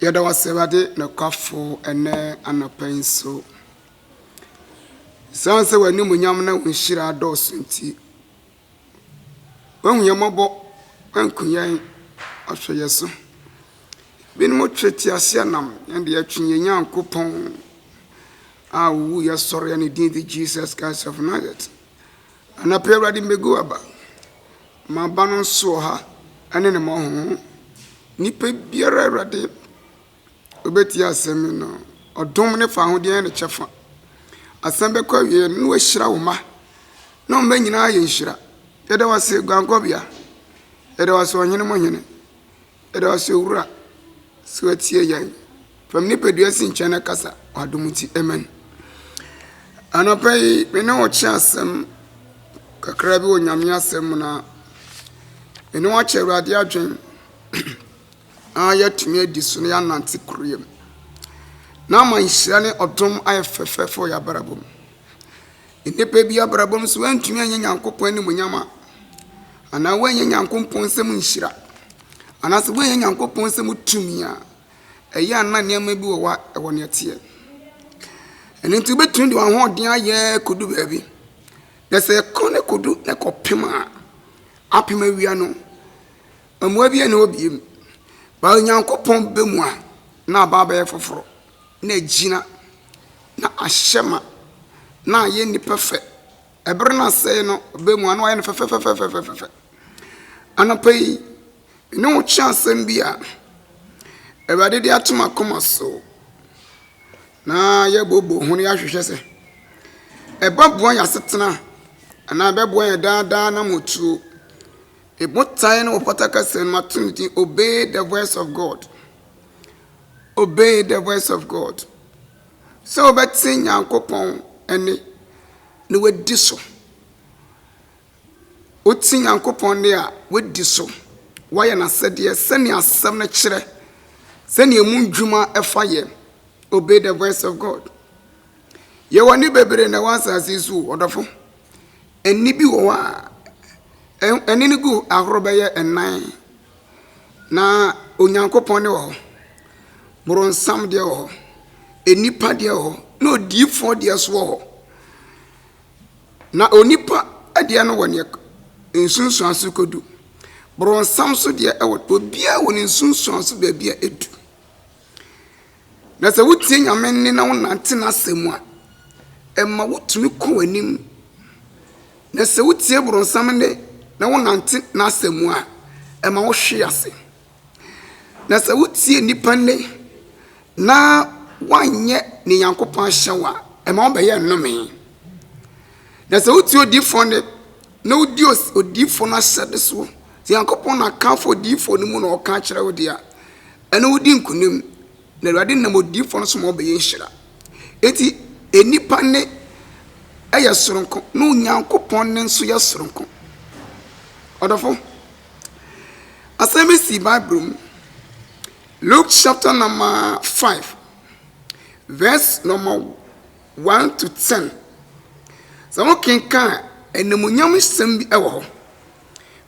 Yɛda wo ase Awurade nokwafo ɛnɛ anɔpa yi nso. Esiane sɛ w'animuonyam na wo nhyira adɔɔso nti, woahu yɛn mmɔbɔ, woanku yɛn, woahwɛ yɛn so. Binom twe teaseɛnam, yɛn de yɛtwe yɛn Nyankopɔn a owu yɛ sɔre a ne din de Jesus Christ of Nazareth. Anɔpa yi, Awurade, mebegu w'aba. M'aba no nso wɔ ha ne ne mmɔho. Nipa biara, Awurade, obetie asɛm yi no, ɔdom ne fawohodeɛ yɛ ne kyɛfa. Asɛm bɛkɔ awieɛ no, na wahyira wo mma. Na wɔn mma nyinaa yɛ nhyira. Yɛda wo ase, Guankɔbea. Yɛda wo ase, Ɔhene mu Hene. Yɛda wo ase Owura sɛ watie yɛn. Fam nipadua si nkyɛn na kasa w'adom nti. Amen. Anɔpa yi me ne wo kyerɛ asɛm kakra bi wɔ Nyame asɛm mu na me ne wakyɛ Awurade adwen na yɛatumi adi so na yɛanante koroyɛ mu. Na ama nhyira ne ɔdom ayɛ fɛfɛɛfɛ wɔ yɛabrabɔ mu. Nnipa bi abrabɔ mu nso, wɔantumi anyɛ Nyankopɔn animuonyam a, anaa wɔanyɛ Nyankopɔn nsɛm nhyira, anaasɛ wɔanyɛ Nyankopɔn nsɛm tumi a, ɛyɛ a na nneɛma bi wɔ hɔ a ɛwɔ nea ɛteɛ. Ɛno nti, wobɛtumi de wɔn ahoɔden ayɛ kɔdu baabi, na sɛ ɛkɔ no kɔdu na ɛkɔpem a, apem awia no, mmoa bi nni hɔ bio. Ba Onyankopɔn ba mu a, na aba abɛyɛ foforɔ. na agyina, na ahyɛ ma, na ayɛ nnipa fɛ. Ɛbere no ase no, ɔbɛ mu a na wayɛ no fɛfɛfɛfɛfɛfɛfɛ. Anɔpa yi, me ne wo kyerɛ asɛm bi a Awurade de ato m'akoma so na yɛbooboo ho na yɛahwehwɛ sɛ ɛbɛboa yɛn asetena anaa ɛbɛboa yɛn daa daa na motuo. Me botae no wɔ Pɔta kasa mu ato no din Obey the Voice of God. Obey the Voice of God. Sɛ wobɛte Nyankopɔn ɛne na wadi so. Wote Nyankopɔn ne a wadi so. Woayɛ n'asɛdeɛ sɛnea asɛm no kyerɛ, sɛnea emu ndwuma ɛfa yɛ. Obey the Voice of God. Yɛwɔ ne bebree na ɛwɔ asase so, ɔdɔfo. Ɛnne bi wɔ hɔ a, ɛnne no gu ahorow bɛyɛ nnan, na Onyankopɔn deɛ wɔ hɔ, boronsam deɛ wɔ hɔ, nnipa deɛ wɔ hɔ, na odiyifoɔ deɛ nso wɔ hɔ. Na onipa deɛ no wɔ neɛ nsunsuanso kɔdu. Boronsam nso deɛ wɔ obiara wɔ ne nsunsuanso baabi a ɛdu. Na sɛ wotie Nyame nne na wonante n'asɛm mu a, ɛma wotumi kɔ anim. Na sɛ wotie borɔnsam nne na wonante n'asɛm mu a, ɛma wohwe ase. Na sɛ wotie nnipa nne na woanyɛ ne Nyankopɔn ahyɛ wo a, ɛma wobɛyɛ nnome. Na sɛ wotie odiyifoɔ nne na wodi odiyifoɔ no ahyɛde soɔ, sɛ Nyankopɔn na akamfo odiyifoɔ no mu na ɔka akyerɛ wo deɛ a, Ɛne wo di nkonim, na Awurade nam odiyifoɔ no so ma wobɛyɛ nhyira. Enti nnipa nne yɛ soronko, na Onyankopɔn nne nso yɛ soronko. Ɔdɔfo, asɛm bi si Bible mu. Luke chapter number five, verse number one to ten. Sɛ wokenkan a, animuonyam nsɛm bi wɔ hɔ.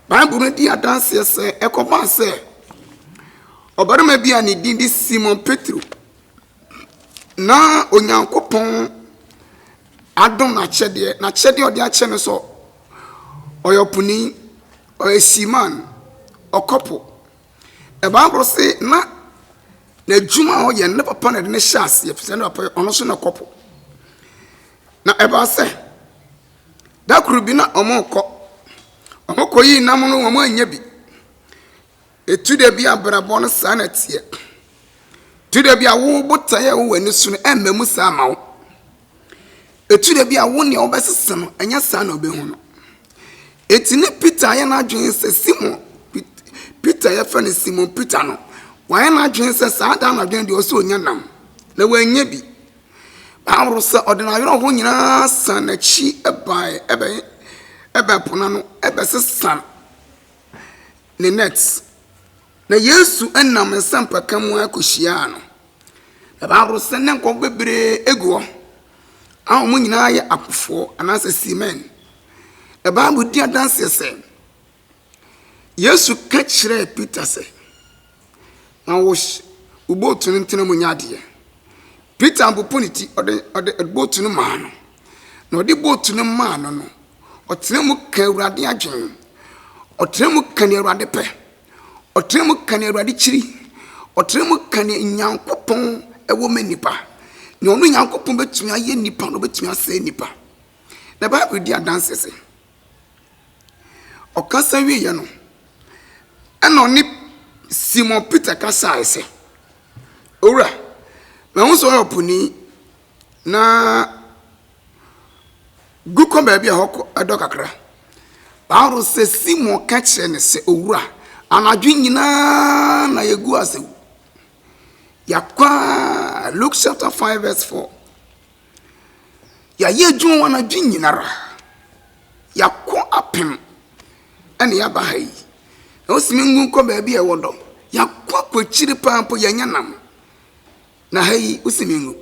Bible no di adanseɛ sɛ ɛkɔbaa sɛ ɔbarima bi a ne din de Simon Petro na Onyankopɔn adom n'akyɛdeɛ n'akyɛdeɛ a ɔde akyɛ no sɛ ɔyɛ ɔponi ɔyɛ seaman ɔkɔpo na bible se na n'adwuma a ɔyɛ no ne papa na ɛde ne hyɛ aseɛ ɛfisɛ ne papa ɔno nso na ɔkɔpo na ɛbaa sɛ Da koro bi na wɔrekɔ. Wɔkɔyii nam no wɔannya bi. Ɛtu da bi abrabɔ no saa na teɛ. Ɛtu da bi a wo botaeɛ a ɛwɔ w'ani so no ɛmma mu saa ma wo. Ɛtu da bi a wo nea wobɛsesa no ɛnyɛ saa na wobɛhu no. Enti ne Peter ayɛ n'adwene sɛ Simon Peter yɛfrɛ no Simon Peter no wayɛ n'adwene sɛ saa da anadwo no deɛ ɔsɛ ɔnya nam na wannya bi. Paulo sɛ ɔde n'awerɛhoɔ nyinaa san n'akyi bae ɛbɛ ɛbɛ po no ano ɛbɛsesa ne net na yesu nam nsɛmpaka mu akɔhyiaa no na bible sɛ ne nkɔfo bebree egu hɔ a wɔn nyinaa yɛ apofoɔ anaasɛ seamen na bible di adanseɛ sɛ Yesu ka kyerɛɛ Peter sɛ, Ma wo boot no ntena mu nyɛ adeɛ. Peter popo ne ti, ɔde ɔde boot no maa no. Na ɔde boot no maa no no, ɔtena mu ka Awurade adwene. Ɔtena mu ka deɛ Awurade pɛ. Ɔtena mu ka deɛ Awurade kyiri. Ɔtena mu ka deɛ Nyankopɔn wɔ ma nnipa. Deɛ ɔno Nyankopɔn bɛtumi ayɛ nnipa no, ɔbɛtumi asɛe nnipa. Na Bible di adanseɛ sɛ. Ɔkasa wieeɛ no, ɛnna ɔne Simon Peter kasaeɛ sɛ, Owura, mahu sɛ woyɛ ɔponi, na gu kɔ baabi a ɛhɔ kɔ ɛdɔ kakra. Bible sɛ Simon ka kyerɛ no sɛ, Owura, anadwo nyinaa na yɛgu ase yɛakɔ a Luke chapter 5 verse 4. Yɛayɛ adwuma anadwo nyinara. Yɛako apem na yɛaba ha yi. Na wose menkɔ baabi a ɛwɔ dɔ. Yɛako akɔ akyiri paa mpo yɛanya nam. Na ha yi wose mengu.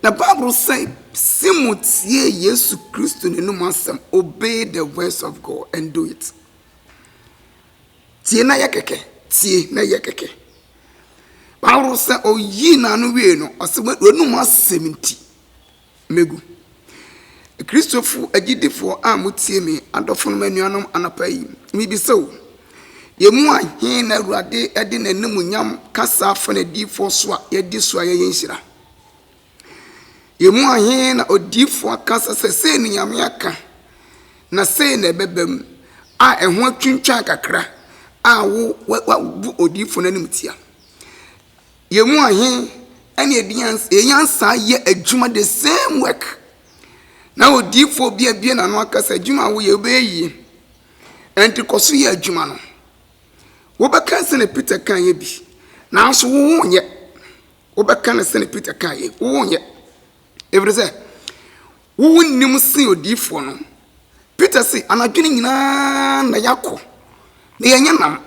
Na Bible sɛ se motie Yesu Kristo n'anom asɛm, obey the voice of God and do it. Tie na yɛ kɛkɛ, tie na yɛ kɛkɛ. Bible sɛ oyii n'ano wiei no, ɔse w'anum asɛm nti megu. Kristofo agyidifoɔ a motie me, adɔfonom anuanom anɔpa yi, mebisa o, yɛn mu a he na Awurade de n'animuonyam kasa afa n'adiyifoɔ so a yɛadi so a yɛyɛ nhyira? Yɛn mu he na odiyifoɔ aka sɛ, sɛ sei ne Nyame aka, na sei na ɛbɛba mu, a ɛho atwintwan kakra, a wo, wa, wabu odiyifoɔ no animtia? Yɛn mu he ɛne yɛde nyansa, yɛn nyansa yɛ adwuma, the same work, na odiyifoɔ bi abie n'ano aka sɛ, adwuma a woyɛ, wobɛyɛ yie, ɛnti kɔ so yɛ adwuma no. Wobɛka sɛnea Peter kaeɛ bi, nanso wo wonyɛ. Wobɛka no sɛdeɛ Peter kaa yei, wonyɛ. Ɛfiri sɛ, wo wonim sen odiyifoɔ no. Peter se, anadwo no nyinaa na yɛakɔ, na yɛnyɛ nam.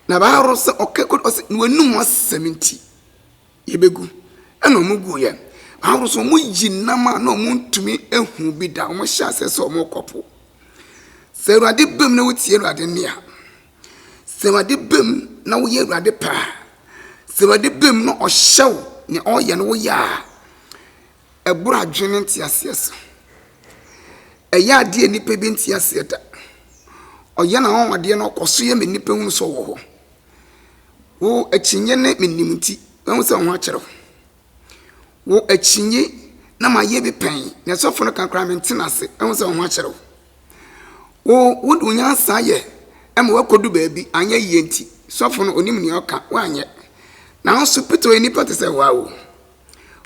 Na baaro sɛ ɔka kɔ ɔsɛ na wɔnum asɛm nti, yɛbɛgu. Ɛna wɔn gu yɛ. Baaro sɛ wɔn yi nam a na wɔn ntumi ehu bi da, wɔn hyɛ aseɛ sɛ wɔn rekɔ po. Sɛ awurade bɛm na wotie awurade nne a. Sɛ Awurade bem na woyɛ Awurade pɛ a, sɛ Awurade bem na ɔhyɛ wo nea ɔreyɛ no woyɛ a, ɛboro adwene ne nteaseɛ so. Ɛyɛ adeɛ a nnipa bi nte aseɛ da. Ɔyɛ n'anwanwadeɛ na ɔkɔ so yɛ ma nnipa hunu sɛ ɔwɔ hɔ. Wo akyinnye ne menim nti, mahu sɛ wo ho akyerɛ wo. Wo akyinnye na mayɛ bi pɛn, nea sɔfo no ka koraa mente no ase, mahu sɛ wo ho akyerɛ wo. Wo wode wo nyansa yɛ ma woakodu baabi, anyɛ yie nti, sɔfo no onim nea ɔka, woanyɛ. Nanso Peter yɛ nipa te sɛ woa o.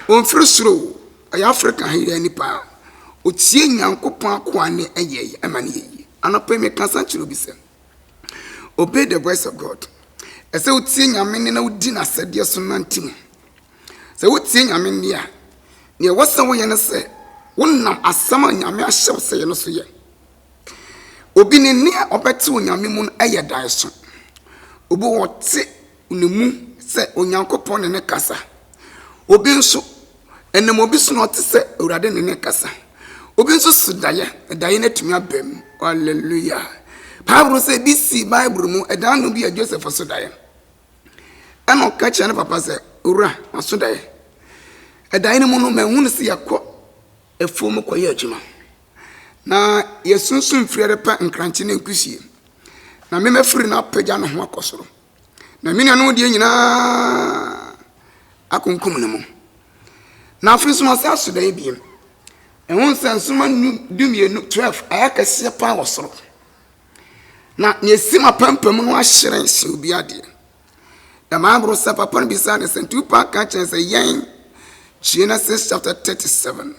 Ɔmfiri soro o, ɔyɛ Afrika ha yɛ nipa. Ɔtie Nyankopɔn akoa ne ɛyɛ yɛ ma no yɛ yie. Anɔpa yi meka sa kyerɛ obi sɛ, obey the voice of God. Ɛsɛ wotie Nyame nne na wodi n'asɛdeɛ so nante mu. Sɛ wutie Nyame nne a, nea ɛwɔ sɛ woyɛ ne sɛ wonam asɛm a Nyame ahyɛ wo sɛ yɛ no so yɛ. Obi ne nne a ɔbɛte wɔ Nyame mu no yɛ daeso. Obi wɔ ɔte ne mu sɛ Onyankopɔn ne ne kasa. Obi nso, ɛnam obi so na ɔte sɛ Awurade ne ne kasa. Obi nso so daeɛ, daeɛ no atumi aba mu. Hallelujah! Bible sɛ ebi sii Bible mu, ɛdaa no bi a Joseph so daeɛ. Ɛnna ɔka kyerɛɛ ne papa sɛ, Owura, maso daeɛ. Ɛdaeɛ no mu no, mahunu sɛ yɛkɔ afuom kɔyɛ adwuma, na yɛasunsum mfiri repɛ nkrankye ne nkusie, na me mafiri no apagya ne ho akɔ soro, na me nuanom deɛ nyinaa akunkum ne mu. Na afei nso masan aso daeɛ bio. Ɛho sɛ nsoromma dumienu, twelve, ayɛ akɛseɛ paa wɔ soro. Na nea esi m'apampam no ahyerɛn sen obiara deɛ. Na Bible sɛ papa no bisaa no sɛ, Tupac ka kyerɛ sɛ yɛn Genesis chapter 37.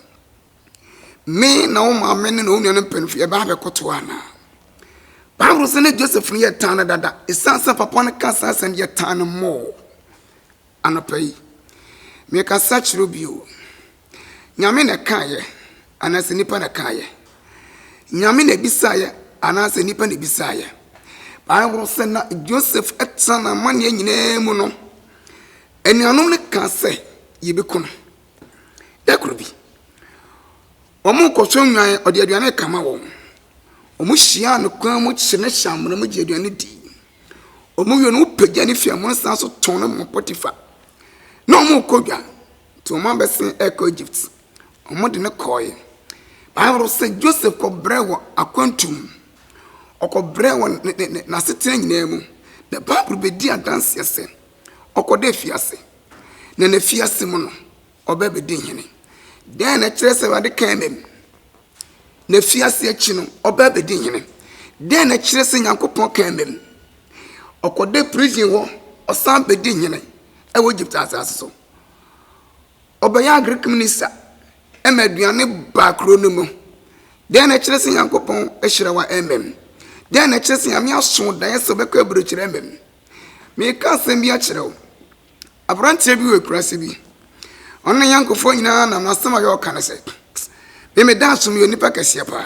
Me na wo maame ne na wo nuanom mpanyinfo yɛbɛ abɛkoto anaa? Bible sɛ ne Joseph no yɛ tan no dada. Esiane sɛ papa no ka saa asɛm yɛ tan no mmɔɔ. Anɔpa yi, mekasa kyerɛ bio. Nyame na ɛkaeɛ anaasɛ nipa na ɛkaeɛ? Nyame na ɛbisaeɛ anaasɛ nipa na ɛbisaeɛ? Bible sɛ na Joseph ɛtena na amaneɛ nyinaa mu no, anuanom no ka sɛ yɛbɛku no. Da koro bi, wɔn kɔhwɛ nnwan, ɔde aduane kama wɔn. Wɔn hyia no kwan mu kye ne hyɛ amena mu gye aduane di. Wɔn wie no, wɔpagya ne fie amono san so tɔn no ma Potiphar. Na wɔn kɔ dwa. Nti wɔn abɛsen ɛkɔ Egypt. Wɔn de no kɔɔɛ. Bible sɛ Joseph kɔ brɛ wɔ akwantu mu. Ɔkɔ brɛ wɔ ne ne ne n'asetena nyinaa mu. Na Bible bɛ di adanseɛ sɛ ɔkɔ dɛ fiase. Na ne fiase mu no ɔbɛ bɛ di hene. Dɛn na ɛkyerɛ sɛ Awurade kaa mɛ mu? Ne fiase akyi no ɔbɛ bɛ di hene. Dɛn na ɛkyerɛ sɛ Nyankopɔn kaa mɛ mu? Ɔkɔ dɛ prison hɔ ɔsan bɛ di hene ɛwɔ Egypt asase so. Ɔbɛyɛ Agric minista ma aduane baa kuro no mu. Dɛn na ɛkyerɛ sɛ Nyankopɔn ahyira wo ɛmɛ mu? Dɛn na ɛkyerɛ sɛ Nyame aso wo daeɛ sɛ ɔbɛkɔ aburokyerɛ ɛmɛ mu? Meka asɛm bi akyerɛ wo. Aberanteɛ bi wɔ akuraase bi. Ɔne ne yɔnkofoɔ nyinaa nam n'asɛm a ɔyɛ ɔka ne sɛ, Me me daaso meyɛ onipa kɛseɛ paa.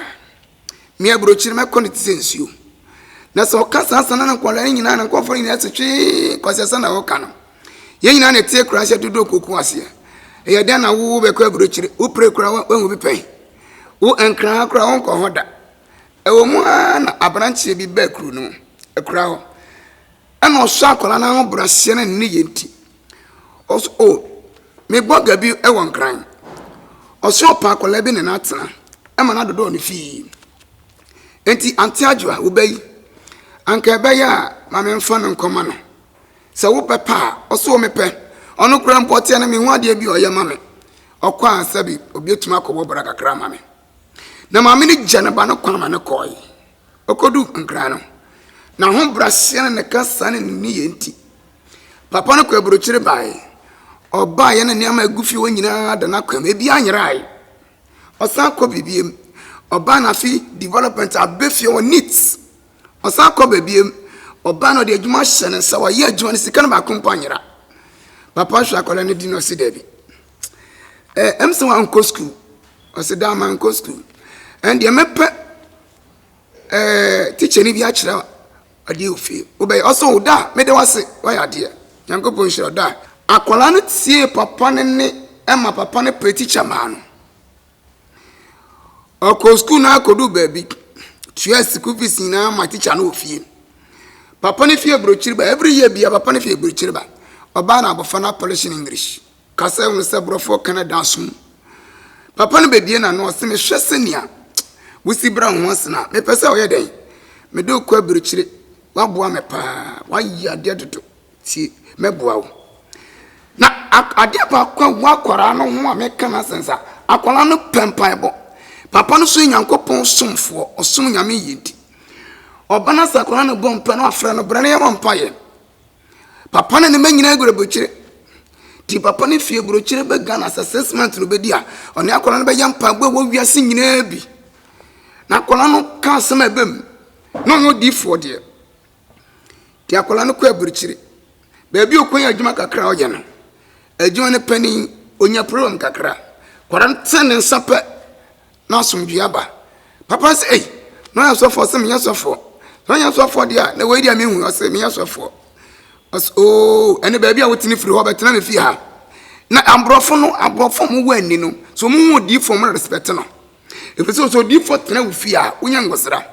Me aburokyiri no mɛkɔ no te sɛ nsuo. Na sɛ ɔka saa sana no nkwadaa no nyinaa na nkɔfoɔ no nyinaa te twee kwasiasa na ɔka no. Yɛn nyinaa na ɛteɛ koraa hyɛ dodoɔ koko aseɛ. Ɛyɛ dɛn na wo bɛkɔ aburokyiri? Wo pere koraa wahu bi pɛn. Wo nkran koraa wonkɔ hɔ da. Ɛwɔ mu ara na abranteɛ bi baa kuro no mu. Ɛkura hɔ. Ɛna ɔsɔ akwadaa no ahobrɛaseɛ ne ne nneyɛɛ nti. Ɔsɛ o, mebɔ ga bi wɔ Nkran. Ɔsɛ ɔpɛ akwadaa bi ne no atena ma no adodɔ ne fii. Enti Aunty Adwoa, wo ba yi, anka ɛbɛyɛ a ma memfa no nkɔma no. Sɛ wobɛpɛ a, ɔsɛ o mepɛ. Ɔno koraa mpo ɔteɛ no menhu adeɛ bi a ɔyɛ ma me. Ɔkɔ a sɛbe obi atumi akɔbɔ bra kakra ama me. Na maame no gya ne ba no kwan ma no kɔeɛ. Okoduu Nkran no, n'ahobrɛaseɛ ne ne kasa ne ne nneyɛɛ nti, papa no kɔɔ aburokyire baeɛ. Ɔbaeɛ na nneɛma a ɛgu fie hɔ nyinaa da n'akwan mu, ebiara nyeraae. Ɔsan kɔ baabiam. Ɔbaeɛ na afi development abɛ fie hɔ neat. Ɔsan kɔ baabiam. Ɔbaeɛ na ɔde adwuma ahyɛ ne nsa, wayɛ adwuma no, sika no baako mpo anyera. Papa hwɛ akwadaa no di no ɔse daabi. eh, ɛm sɛ wankɔ sukuu ɔsɛ daa mankɔ sukuu ɛndeɛ mɛpɛ eh, tikya no bi akyerɛ adeɛ wɔ fie wobɛyɛ ɔsɛ wo da a mede wase woayɛ adeɛ nyankopɔn nhyira wo da akwadaa no tie papa no ne ɛma papa no pɛ tikya maa no ɔkɔ sukuu no akɔdu baabi tua sukuu fees nyinaa ma tikya no wɔ fie papa no fie aburokyiri ba every year bia papa no fie aburokyiri ba ɔbaa na abɔfra no apɔlehye no english Ka sɛ hunu sɛ borɔfoɔ ka no da aso mu. Papa no bɛbie n'ano ɔse mehwɛ sɛnea wosi bra ho ase no a mepɛ sɛ ɔyɛ dɛn? Mede wo kɔ abirikyire woaboa me paa woayɛ adeɛ dodo tie mɛboa wo na adeɛ baako a wo akwaraa no ho a meka no asɛm sa akwaraa no pɛ mpaebɔ papa no so Nyankopɔn somfoɔ ɔsom Nyame yie nti ɔba no sɛ akwaraa no bɔ mpa no afrɛ no bra no yɛmɔ mpaeɛ Papa ne ne mma nyinaa gura burokyire. Ti papa no fie burokyire bɛ Ghana sɛ six months no bɛdi a ɔne akwadaa no bɛyɛ mpaebɔ a ɛwɔ wiase nyinaa bi. Na akwadaa no ka asɛm a ɛbɛ mu na ɔnyɛ odiifoɔ deɛ. Ti akwadaa no kɔ aburokyire. Baabi a ɔkwan yɛ adwuma kakra a ɔyɛ no. Adwuma no panin ɔnya problem kakra. Kwadaa no tene ne nsa pɛ na asomdwoe aba. Papa se, ei, na ɔyɛ sɔfoɔ? Ɔse, menyɛ sɔfoɔ. Sɛ ɔnyɛ sɔfoɔ deɛ a, na wei deɛ menhu. Ɔse, menyɛ sɔfoɔ. Ɔse, oo, ɛne baabi a wotene firi hɔ bɛtena me fie ha. Na aborɔfo no, aborɔfo a wɔn wɔ ani no, sɛ wɔn hu odiifoɔ, wɔn respect no. Ɛfiri sɛ, sɛ odiifoɔ tena wo fie a, wonya ngosra.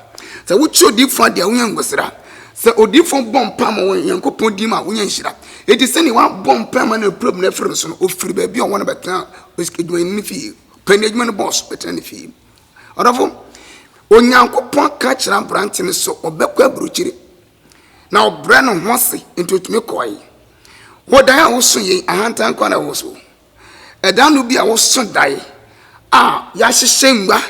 Sɛ wokyi odiifoɔ adeɛ a, wonya ngosra. Sɛ odiifoɔ bɔ mpa ma wɔn Nyankopɔn din mu a, wonya nhyira. Eti sɛdeɛ wabɔ mpa ma no apirapira no afiri no so no, ofiri baabi a ɔwɔ no bɛtena adwumayɛni no fie. Pɛ n'adwuma no bɔs bɛtena ne fie. Ɔdɔfo, Onyankopɔn ka kyerɛ aberante no sɛ ɔbɛkɔ aburokyire, na ɔbrɛ ne ho ase nti otumi kɔe. Wo dae a woso yei, ahantan kwan na ɛwɔ so. Ɛda no bi a woso dae a yɛahyehyɛ ngua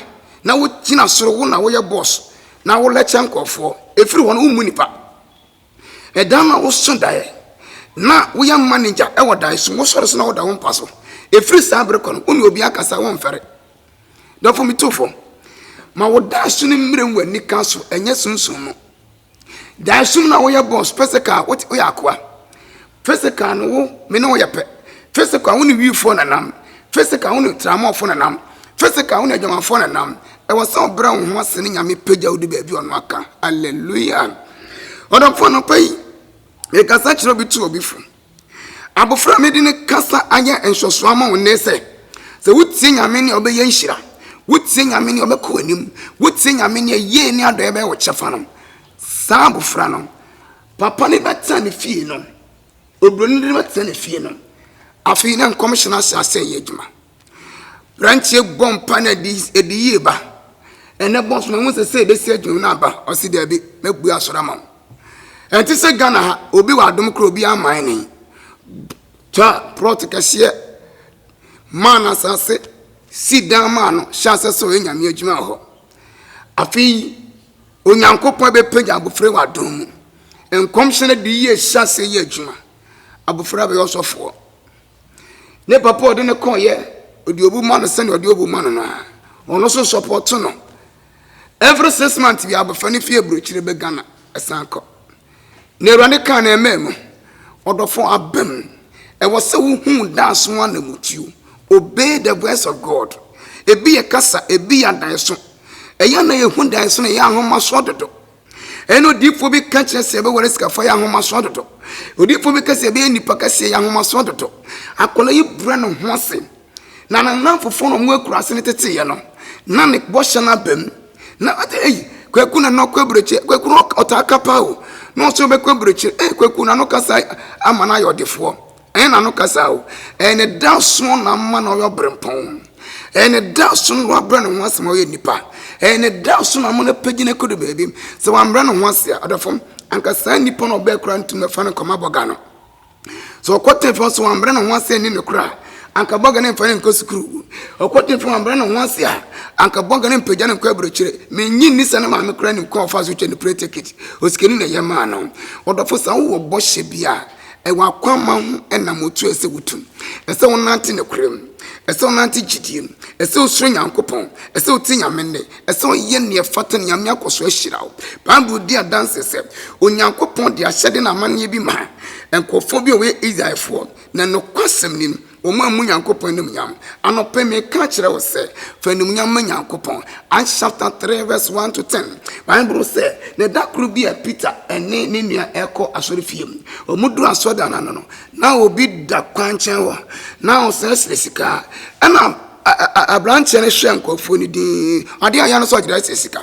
na wogyina soro, wo na woyɛ bɔs na wolɛkyɛ nkurɔfoɔ. Ɛfiri hɔ no, wommu nnipa. Ɛda no a wosõ daeɛ na woyɛ manegya wɔ daeɛso no, wosɔre so na woda wo mpa so. Ɛfiri saa bere kɔ no, wo ne obiara kasa womfɛre. Dɔfo me tu fam, ma wo daeso no mmerɛ mu anika so, ɛnyɛ sunsum mu. Daeso mu no a woyɛ bɔs, pɛ sɛ kaa, woyɛ akoa. Physical no wo me ne wo yɛ pɛ Physical wo ne wifoɔ na nam Physical wo ne tramɔfoɔ na nam Physical wo ne adwamanfoɔ na nam Ɛwɔ sɛ ɔbrɛ wo ho ase ne Nyame pagya wo du baabi ɔno aka Hallelujah Ɔdɔfoɔ anɔpa yi mekasa kyerɛ obi to obi fo Abofra a mede ne kasa ayɛ nhwɛsoɔ ama wo nnɛ sɛ sɛ wotie Nyame ne ɔbɛyɛ nhyira wotie Nyame ne ɔbɛkɔ w'anim wotie Nyame ne yie ne adɔeɛ bɛyɛ wo kyɛfa no saa abofra no Papa no bɛtena ne fie no, oburoni no bɛtena ne fie no. Afei na nkɔmhyɛ no ahyɛ asɛ yɛ adwuma. Branteɛ bɔ mpa na ɛde ɛde yie ba. Ɛnɛ bɔ soma ho sɛ sɛ ebesi adwuma no aba. Ɔsi dɛbi mɛbue asɔre ama wo. Ɛnte sɛ Ghana ha obi wɔ adom koro obi ama ne. Twa prɔt kɛseɛ maa no asase si dan maa no hyɛ asɛ sɛ ɔyɛ nyame adwuma wɔ hɔ. Afei Onyankopɔn bɛpagya abɔfra wɔ adom mu. Nkɔmhyɛ no de yie hyɛ ase yɛ adwuma. Abɔfra bɛyɛ ɔsɔfoɔ. Ne papa ɔde no kɔɔyɛ ɔde obu ma no sɛdeɛ ɔde obu ma no no a ɔno nso sɔpɔto no. Every six months bi abɔfra no fi aburokyire bɛ Ghana ɛsan kɔ. Na Awurade kaa na ɛmɛɛ no, Ɔdɔfɔɔ abɛm, ɛwɔ sɛ wo hu daaso ho anamutuo, obey the voice of God. Ebi yɛ kasa, ebi yɛ adaeso. Ɛyɛ na yɛ hu daeso na ɛyɛ ahomasoɔ dodo. Ɛyɛ na odiifoɔ bi ka kyerɛ sɛ ɛbɛware sikafo ɛyɛ ahomasoɔ dodo. Odiifoɔ bi ka sɛ ɛbɛyɛ nipa kɛseɛ ɛyɛ ahomasoɔ dodo. Akwadaa yi brɛ ne ho ase. Na ne nnamfofoɔ no a wɔakura ase no teteeɛ no, na ne bɔhyɛ no aba mu. Na ɔte ei, Kwaku na na ɔkɔ aburokyire, Kwaku no ɔtaa ka paa o, na ɔsɛ ɔbɛkɔ aburokyire, ei Kwaku na no kasa ama no ayɛ ɔdefoɔ, ɛyɛ na no kasa o, ɛyɛ ne da soɔ na ama na ɔyɛ ɔbrempɔn, ɛyɛ ne da so na wabrɛ ne ho ase ma ɔyɛ nipa, ɛyɛ ne da so na ama no apagyi no akɔdu baabi, sɛ wambrɛ ne ho ase a, ɔdɔfo, anka saa nipa no ɔbɛɛ koraa ntumi mfa no nkɔma bɔga no. Sɛ ɔkɔ Teefeɔ nso wambrɛ ne ho ase anni nokorɛ a, anka bɔga no mfa no nkɔ sukuu. Ɔkɔ Teefeɔ wambrɛ ne ho ase a, anka bɔga no mpagya no nkɔ aburokyire. Mennye nni sɛ ne maame koraa nim kwan a ɔfaa so twa ne plane ticket. Osikani na ɛyɛ maa no. Ɔdɔfo, sɛ wowɔ bɔhyɛ bi a, ɛwɔ akwamma ho nam a otu a ɛsɛ wotu. Ɛsɛ wonante nokorɛ mu. Ɛsɛ wonante gyidie mu. Ɛsɛ wosuro Nyankopɔn. Ɛsɛ wote Nyame nne. Ɛsɛ ɔyɛ nea ɛfata, Nyame akɔ so ahyira wo. Bible di adanse sɛ Onyankopɔn de ahyɛde ne amanneɛ bi maa nkurɔfoɔ bi a wɔyɛ Israelfoɔ, na nokwasɛm ni, wɔammu Nyankopɔn animuonyam. Anɔpa yi, mereka akyerɛ wo sɛ, fa animuonyam ma Nyankopɔn. Acts chapter 3 verse 1 to 10, Bible sɛ, Na ɛda koro bi a Peter ne ne nua rekɔ asɔrefie. Wɔduruu asɔredan no ano no, na obi da kwankyɛn hɔ, na ɔsrɛsrɛ sika. Ɛnna. Abranteɛ no hyɛ nkurɔfoɔ no din adeɛ a yɛ no sɛ ɔgyerɛ sɛ sika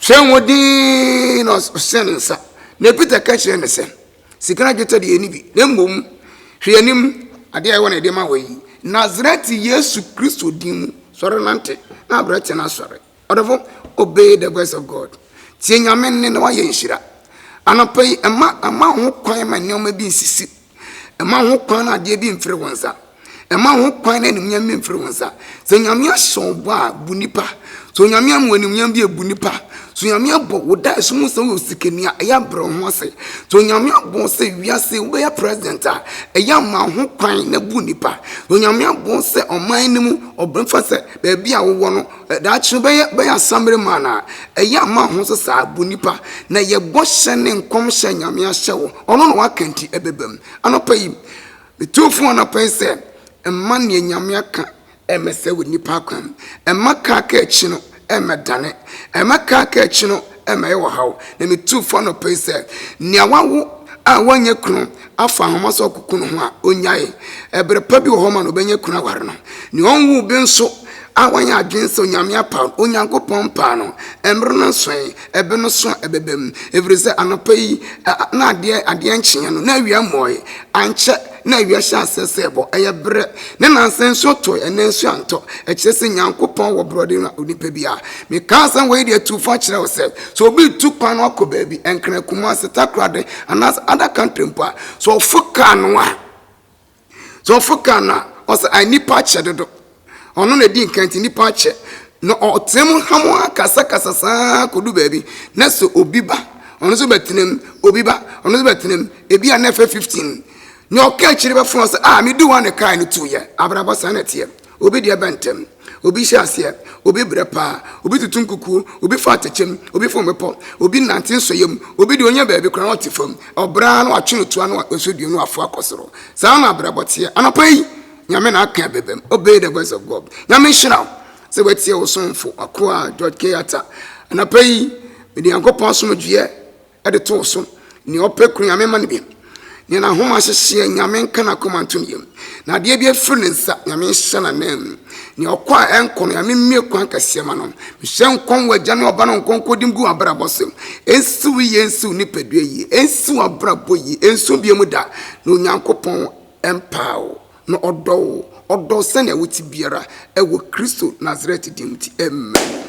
hyɛ wɔn din na ɔhyɛ ne nsa na Peter ka kyerɛ ne sɛ sika na dwetɛ deɛ ɛni bi na mmom hwɛ anim adeɛ a ɛwɔ na ɛde ma wɔ yi Nazareth Yesu Kristo din mu sɔre nante na abranteɛ no asɔre Ɔdɔfo, obey the voice of God. Tie Nyame nne na woayɛ nhyira. Anɔpa yi, mma mma wo ho kwan ma nneɛma bi nsisi. Mma wo ho kwan na adeɛ bi mfiri wo nsa. Mma wo ho kwan na animuonyam bi mfiri wo nsa. Sɛ Nyame ahyɛ wo bɔ a, bu nipa. Sɛ Onyame ama wo animuonyam bi a, bu nipa. Sɛ Onyame abɔ wo da ɛso mu sɛ woyɛ osikani a, ɛyɛ abrɛ wo ho ase. Sɛ Onyame abɔ wo sɛ wiase wobɛyɛ president a, ɛyɛ ama wo ho kwan na bu nipa. Sɛ Onyame abɔ wo sɛ ɔman no mu ɔbɛfa sɛ baabi a wowɔ no Daakye no bɛyɛ bɛyɛ asammere man a ɛyɛ ama ho nso saa bu nipa na yɛ bɔhyɛ ne nkɔmhyɛ nyame ahyɛ wo ɔno na waka nti ɛbɛbam anɔpa yi metu fo anɔpa yi sɛ ɛma neɛ nyame aka ɛmɛsɛ wɔ nipa akwan ɛma kaa ka akyi no ɛmɛdane ɛma kaa ka akyi no ɛma yɛwɔ haw, na mituu fo anɔpa yi sɛ nea wawo a wanyɛ kunu afa nhoma so akoko no ho a, onnyae. Ɛbere pa bi wɔ hɔ ma no obenya kunu aware no. Nea ɔnwoo bi nso a wanyɛ adwene sɛ Onyame apaw no, Onyankopɔn mpaa no. Mmere no nsoe, ɛbɛ no so a ɛbɛba mu, efisɛ anɔpa yi na adeɛ adeɛ nkyeeɛ no, na awia mmɔɔe. Ankyɛ na awia hyɛ aseɛ sɛ ɛbɔ ɛyɛ berɛ ne nansa nsuo tɔe ɛnɛ nsuo antɔ ɛkyerɛ sɛ nyankopɔn wɔ borɔde na onipa bi a meka asɛm wɔ yi deɛ tu fa kyerɛ wo sɛ sɛ obi tu kwan no akɔ baabi ɛnkran kuma ase takorade anaasɛ ada country mpo a sɛ ɔfo kaa no a sɛ ɔfo kaa no a ɔsɛ a nnipa akyɛ dodo ɔno na ɛdi nkan nti nnipa akyɛ na ɔtena mu ha mu akasakasa saa kɔdu baabi na sɛ obi ba ɔno nso bɛtena mu obi ba ɔno nso bɛtena mu ebi a na ɛfɛ 15 nea ɔka akyire bɛfono sɛ a ah, medi wa ne kaa no tu yɛ abrabɔ saa na ɛteɛ obi deɛ bɛntɛm obi hyɛ aseɛ obi brɛ paa obi tutu nkukuo obi fa atɛkyɛm obi fom bepɔ obi nante nsɔyɛ mu obi deɛ ɔnya baabi koraa na ɔte fam ɔbraa na watwe no toa na ɔsɔ dua na wafo akɔ soro saa na abrabɔ teɛ anapa yi nyame na aka bɛbɛm obey the voice of god nyame nhyira wo sɛ watie wo somfo akoa george k ata anapa yi mede nyankopɔn asomdwoeɛ ɛde too so nea ɔpɛ kuru nyame ma no bi nea n'ahoma ahyehyeɛ nyame nka n'akoma nto no yam na adeɛ bi afiri ne nsa nyame nhyɛ n'anam mu nea ɔkɔ a ɛnkɔ no nyame mmie kwan kɛseɛ ma no mehyɛ nkɔm wɔ agya ne ɔba no nkɔnkɔdim gu abrabɔ so ɛnsiw yie ɛnsiw nipadua yie ɛnsiw abrabɔ yie ɛnso bie mu da na onyankopɔn ɛmpaa wo, na ɔdɔ wo, ɔdɔ wo sɛnea wote biara, ɛwɔ Kristo Nasaret din nti, amen.